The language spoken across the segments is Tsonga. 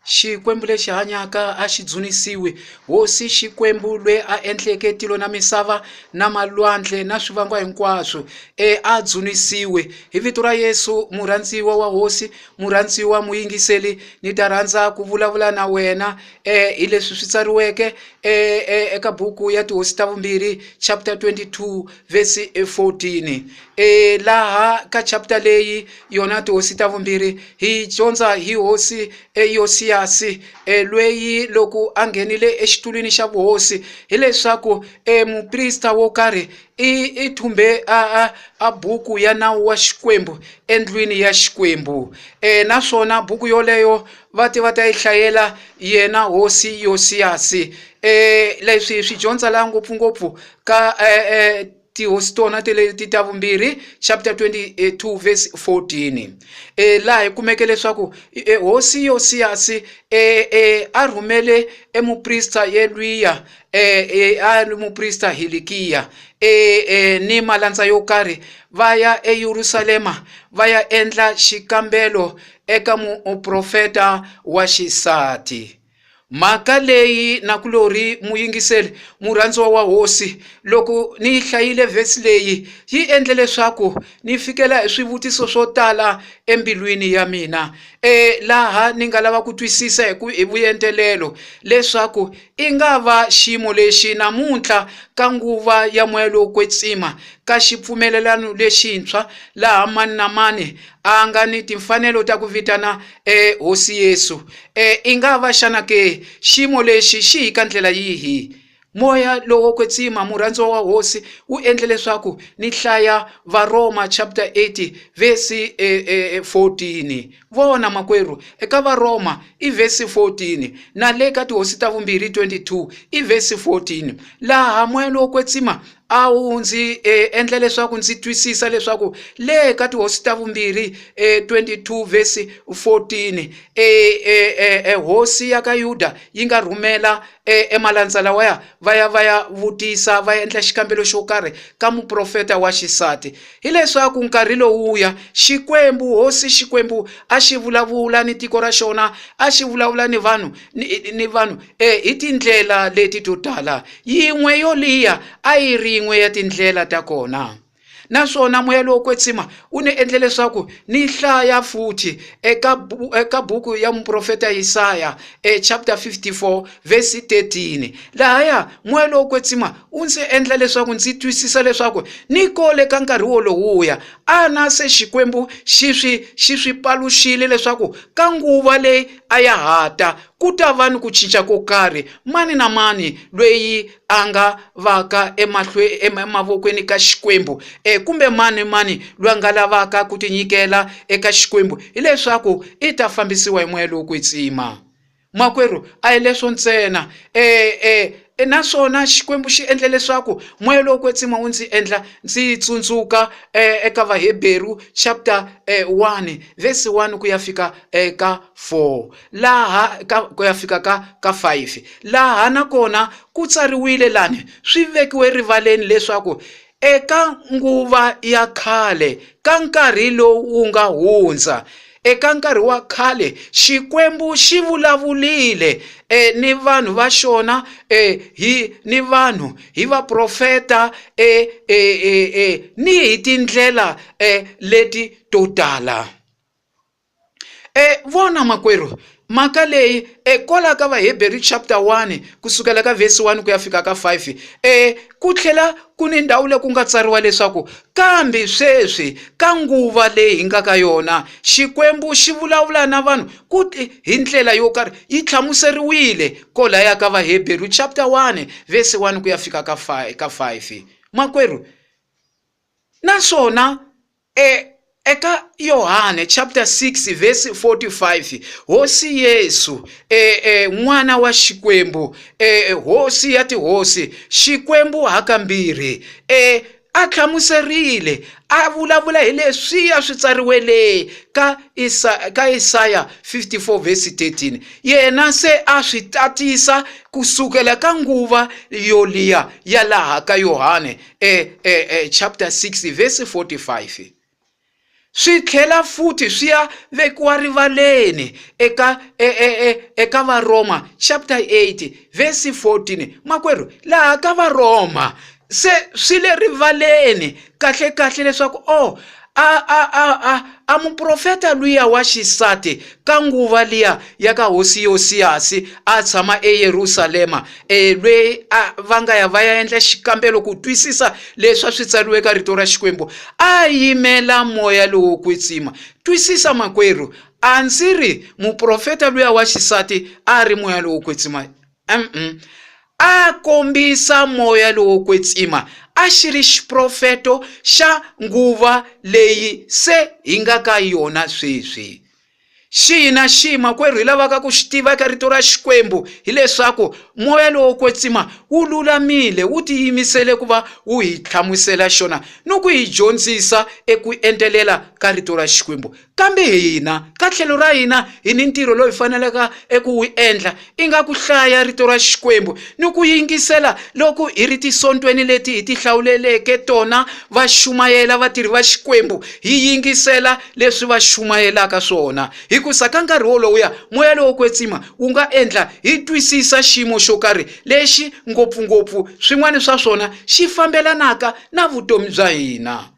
Xikwembu lexi hanyaka a xi dzunisiwi, Hosi Xikwembu lwe a endleke tilo na misava na malwandle na swivangwa hinkwaswo, e a dzunisiwi. Hi vito ra Yesu, murhandziwa wa Hosi, murhandziwa muyingiseli, ni ta rhandza ku vulavula na wena hi leswi swi tsariweke eka buku ya Tihosi ta Vumbirhi chapter 22. vhesi 14 e laha ka chapter leyi yona tihosi ta vumbirhi hi dyondza hi hosi eyosiyasi e lweyi loko a nghenile exitulwini xa vuhosi hileswaku e muprista wo karhi i i thumbe a a a buku ya nawu wa xikwembu endlwini ya xikwembu um naswona buku yoleyo va te va ta yi hlayela yena hosi yosiyasi um leswi hi swi dyondza laha ngopfungopfu ka eh, eh, tihosi tona ti ta vumbirhi chapter 22 verse 14 e, laha hi kumeke leswaku e, hosi yosiyasi e, e, a rhumele emuprista yelwiya e, e, a ri muprista hilikiya e, e, ni malandza yo karhi va ya eyerusalema va ya endla xikambelo eka muprofeta wa xisati mhaka leyi na ku lori muyingiseli murhandziwa wa hosi loko ni yi hlayile vhesi leyi yi endle leswaku ni fikela hi swivutiso swo tala embilwini ya mina e laha ni nga lava ku twisisa hi ku hi vuyentelelo leswaku i nga va xiyimo lexi namuntlha ka nguva ya moya lowo kwetsima ka xipfumelelano lexintshwa laha mani na mani a nga ni timfanelo ta ku vitana e hosi yesu e i nga va xana ke xiyimo lexi xi hi ka ndlela yihi moya lowo kwetsima murhandziwa wa hosi wu endle leswaku ni hlaya varoma chapter 8 vesi e, e, 14 vona makwerhu eka varoma i vesi 14 na le ka tihosi ta vumbirhi 22 i vesi 14 laha moya lowo kwetsima A wu ndzi endla leswaku ndzi twisisa leswaku le ka tihosi ta vumbirhi 22 vhesi 14 hosi ya ka Yuda yi nga rhumela emalandza lawaya va ya va ya vutisa va ya endla xikambelo xo karhi ka muprofeta wa xisati hileswaku nkarhi lowuya Xikwembu hosi Xikwembu a xi vulavula ni tiko ra xona a xi vulavula ni vanhu ni vanhu e hi tindlela leti to tala yin'we yo liya a yi ri yin'we ya tindlela ta kona naswona moya lowo kwetsima wu ni endle leswaku ni hlaya futhi eka eka buku ya muprofeta Yisaya e chapter 54 verse 13 lahaya moya lowo kwetsima wu ndzi endla leswaku ndzi twisisa leswaku ni kole ka nkarhi wolowuya ana se xikwembu xi swi xi swi paluxile leswaku ka nguva leyi a ya hata ku ta va ni ku cinca ko karhi. Mani na mani loyi a nga vaka emavokweni ka Xikwembu e, kumbe mani mani loyi a nga lavaka ku tinyikela eka Xikwembu, hileswaku i ta fambisiwa hi moya lowo kwetsima. Makwerhu, a hi leswo ntsena e, e, e naswona Xikwembu xi endle leswaku moya lowo kwetsima wu ndzi endla ndzi tsundzuka e, eka Vaheberu chapter 1 e, verse 1 ku ya fika eka 4 laha ka ku ya fika ka ka 5 laha na kona ku tsariwile lani swi vekiwe rivaleni leswaku eka nguva ya khale ka nkarhi lowu wu nga hundza eka nkarhi wa khale xikwembu xi vulavulile e, ni vanhu va xona e, hi ni vanhu hi vaprofeta e, e, e, e, ni hi tindlela e, leti to tala E vona makwerhu mhaka leyi e kwala ka vaheberi chapter 1 ku sukela ka vhesi 1 ku ya fika ka 5 e ku tlhela ku ni ndhawu leyi ku nga tsariwa leswaku kambe sweswi ka nguva leyi hi nga ka yona xikwembu xi vulavula na vanhu ku hi ndlela yo karhi yi hlamuseriwile kolaya ka vaheberi chapter 1 vhesi 1 ku ya fika ka 5 ka 5 makwerhu naswona E, eka Yohane chapter 6 verse 45 hosi Yesu e, e, n'wana wa Xikwembu e, e hosi ya tihosi Xikwembu hakambirhi e, a hlamuserile a vulavula hi leswiya swi tsariwele ka, Isa, ka Isaya 54 verse 13 yena se a swi tatisa ku sukela ka nguva yoliya ya laha ka Yohane eh, eh, eh, chapter 6 verse 45 swi tlhela futhi swi ya vekiwa rivaleni eka e, e, e, eka varoma chapter 8 verse 14 makwerhu laha ka varoma se swi le rivaleni kahle kahle leswaku o oh, A, a, a, a, a muprofeta luya wa xisati ka nguva liya ya ka hosi Yosiyasi a tshama eYerusalema, e, lweyi a va nga ya va ya endla xikambelo ku twisisa leswi a swi tsariwe ka rito ra Xikwembu, a yimela moya lowo kwetsima. Twisisa, makwerhu, a ndzi ri muprofeta luya wa xisati a ri moya lowo kwetsima. Umm a kombisa moya lowo kwetsima, a xi ri xiprofeto xa nguva leyi se hi nga ka yona sweswi. Xihi na xihi makwerhu hi lavaka ku xi tiva eka Rito ra Xikwembu hi leswaku moya lowo kwetsima wu lulamile, wu tiyimisele ku va wu hi hlamusela xona ni ku hi dyondzisa eku entelela ka Rito ra Xikwembu. Kambe hina, ka tlhelo ra hina, hi ni ntirho lowu hi faneleka eku wu endla, inga ku hlaya Rito ra Xikwembu ni ku yingisela loko hi ri tisontweni leti hi tihlawuleleke tona va xumayela vatirhi va Xikwembu, hi yingisela leswi va xumayelaka swona. Hikusa ka nkarhi wolowuya, moya lowo kwetsima wu nga endla hi twisisa xiyimo xo karhi lexi ngopfu-ngopfu swin'wana swa swona xi fambelanaka na vutomi bya hina.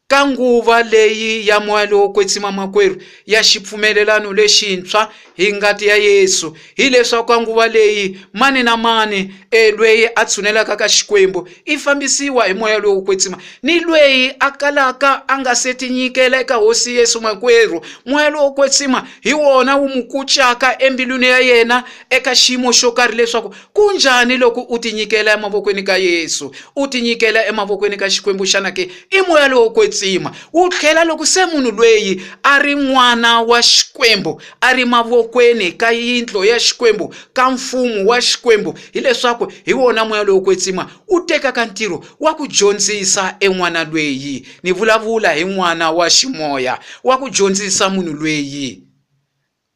Ka nguva leyi ya moya lowo kwetsima makwerhu ya xipfumelelano lexintshwa hi ngati ya Yesu, hileswaku ka nguva leyi mani na mani e lweyi a tshunelaka ka Xikwembu i fambisiwa hi moya lowo kwetsima, ni lweyi a kalaka a nga se tinyikela eka Hosi Yesu makwerhu, moya lowo kwetsima hi wona wu mu kucaka embilwini ya yena eka xiyimo xo karhi leswaku Ku njhani loko u tinyikela emavokweni ka Yesu, u tinyikela emavokweni ka Xikwembu? Xana ke i moya lowo kwetsima? Wu tlhela loko se munhu lweyi a ri n'wana wa Xikwembu, a ri mavokweni ka yindlo ya Xikwembu, ka mfumo wa Xikwembu, hileswaku hi wona moya lowo kwetsima wu tekaka ntirho wa ku dyondzisa en'wana lweyi. Ni vulavula hi n'wana wa ximoya wa ku dyondzisa munhu lweyi.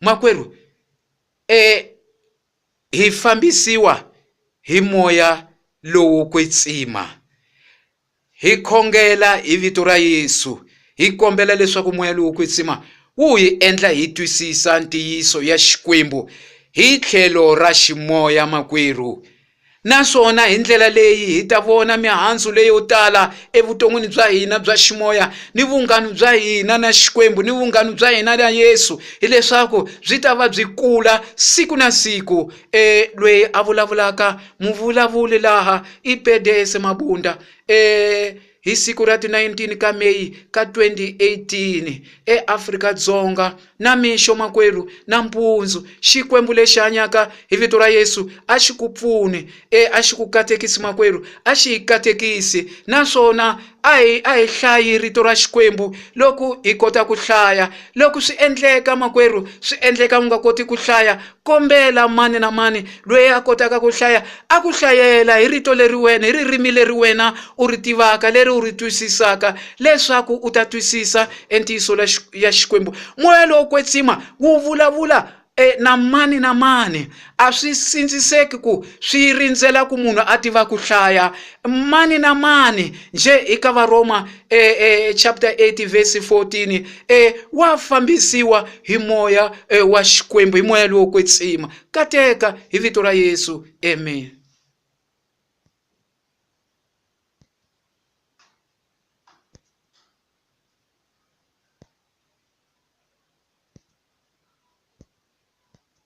Makwerhu, e. Hi fambisiwa hi moya lowo kwetsima. Hi khongela hi vito ra Yesu, hi kombela leswaku moya lowo kwetsima wu hi endla hi twisisa ntiyiso ya Xikwembu hi tlhelo ra ximoya. Makwerhu, Naswona hi ndlela leyi hi ta vona mihandzu leyo tala evuton'wini bya hina bya ximoya ni vunghanu bya hina na Xikwembu ni vunghanu bya hina na Yesu, hileswaku byi ta va byi kula siku na siku. E lweyi a vulavulaka muvulavuli laha i Pedese Mabunda. E Hi siku ra ti 19 ka May ka 2018, eAfrika Dzonga, namixo makwerhu, nampundzu, Xikwembu lexi hanyaka hi vito ra Yesu a xi ku pfune, e a xi ku katekisi makwerhu, a xi hi katekisi, naswona a hi a hi hlayi rito ra Xikwembu loku hi kota ku hlaya. Loku swi endleka makwerhu, swi endleka u nga koti ku hlaya, kombela mani na mani loyi a kotaka ku hlaya a ku hlayela hi rito leri wena hi ririmi leri wena u ri tivaka leri u ri twisisaka leswaku u ta twisisa entiyiso ya xikwembu moya lowo kwetsima wu vulavula e, na mani na mani a swi sindziseki ku swi rindzela ku munhu a tiva ku hlaya mani na mani njhe eka varoma eh, eh, chapter 8 verse 14 eh, wa fambisiwa hi moya eh, wa xikwembu hi moya lowo kwetsima kateka hi vito ra yesu amen